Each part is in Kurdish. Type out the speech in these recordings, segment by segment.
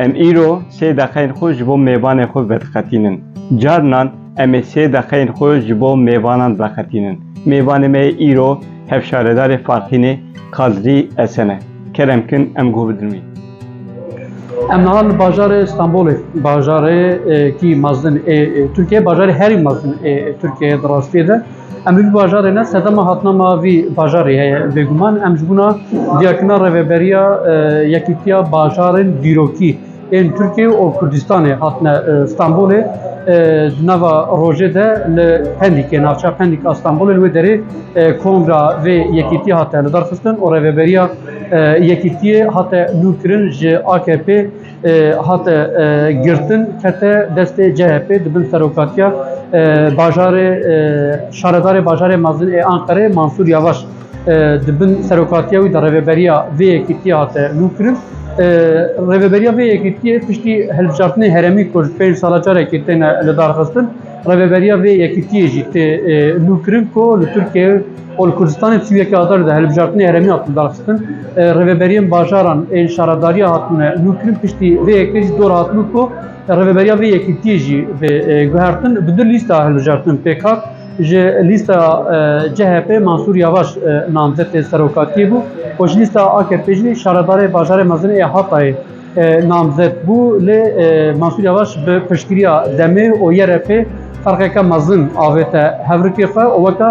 Em îro sê deqeyên xwe ji bo mêvanê xwe vediqetînin. Carinan em ê sê deqeyên xwe ji bo mêvanan veqetînin. Mêvanê me yê îro hevşaredarê Farxînê Kadrî Esen e. Kerem kin em guh bidin wî. Em niha li bajarê Stenbolê, bajarê kî mezin ê Tirkiyê, bajarê herî mezin ê Tirkiyeyê di rastiyê de. Em li vî bajarê ne sedema hatina me vî bajarê heye bêguman. Em ji bona diyarkirina rêveberiya Yekîtiya Bajarên Dîrokî ên Tirkiyê û Kurdistanê hatine Stenbolê. Di nava rojê de li Pendîkê, navçeya Pendîk a Stenbolê li wê derê kongra vê yekîtiyê hate lidarxistin û rêveberiya Yekîtiyê hate nûkirin ji AKP hate girtin kete destê CHP di bin serokatiya bajarê şaredarê bajarê mezin ê Anqerê Mansûr Yavaş di bin serokatiya wî de rêveberiya vê yekîtiyê hate nûkirin. Rêveberiya vê yekîtiyê piştî hilbijartinê herêmî ku ji pênc sala carekê têne lidarxistin rêveberiya vê yekîtiyê jî tê nûkirin ku li Tirkiyeyê Ol Kurdistanê tu yekê Adar de hilbijartinê herêmî hatin daxistin. Rêveberiyên bajaran ên şaredariya hatine nûkirin piştî vê yekê jî dor hatibû ku rêveberiya vê yekîtiyê jî bê guhertin. Bi du lîsta hilbijartin pêk hat. Ji lîsta CHP Mansûr Yavaş namzetê serokatiyê bû û ji lîsta AKP'ê jî şaredarê bajarê mezin ê Hatayê namzet bû. Lê Mansûr Yavaş bi piştgiriya DEM'ê û YRP'ê ferqeke mezin avête hevrikê xwe û weke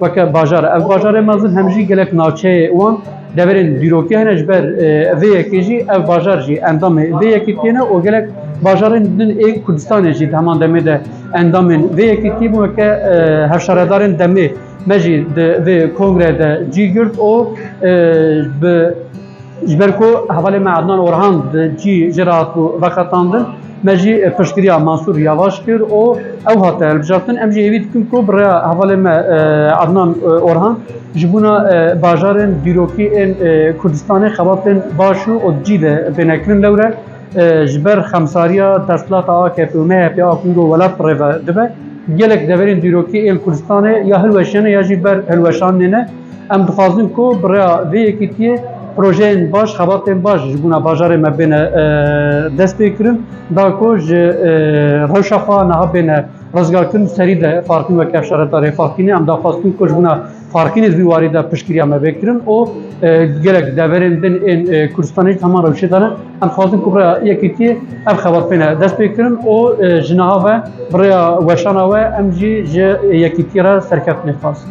Weke bajar ev bajarê mezin hem jî gelek navçeyê wan deverên dîrokî hene ji ber vê yekê jî ev bajar jî endamê vê yekîtiyê ne û gelek bajarên din ê Kurdistanê jî di heman demê de endamên vê yekîtiyê bû weke hevşaredarên demê me jî di vê kongre de cî girt û bi Ji ber ku hevalê me Adnan Orhan di cî jê re hat veqetandin, me jî piştgiriya Mansûr Yavaş kir û ew hate hilbijartin. Em jî hêvî dikin ku bi rêya hevalê me Adnan Orhan ji bûna bajarên dîrokî ên Kurdistanê xebatên baş û di cî de bêne kirin. Lewre ji ber xemsariya desthilata AKP'ê û MHP'ê a ku îro welat bi rê ve dibe, gelek deverên dîrokî ên Kurdistanê ya hilweşiyane ya jî ber hilweşanînê ne. Em dixwazin ku bi rêya vê yekîtiyê projeyên baş, xebatên baş ji bona bajarê me bêne dest pê kirin, da ku ji rewşa xwe niha bêne rizgarkirin û serî de Farkîn weke şaredarê Farkînê em daxwestin ku ji bona Farkînê di vî warî de piştgiriya me bê kirin û gelek deverên din ên Kurdistanê ji heman rewşê de ne. Em dixwazin ku bi rêya yekîtiyê ev xebatbêne destpêkirin û ji niha ve bi rêya weşana we em jî ji yekîtiyê re serkeftinê dixwazin.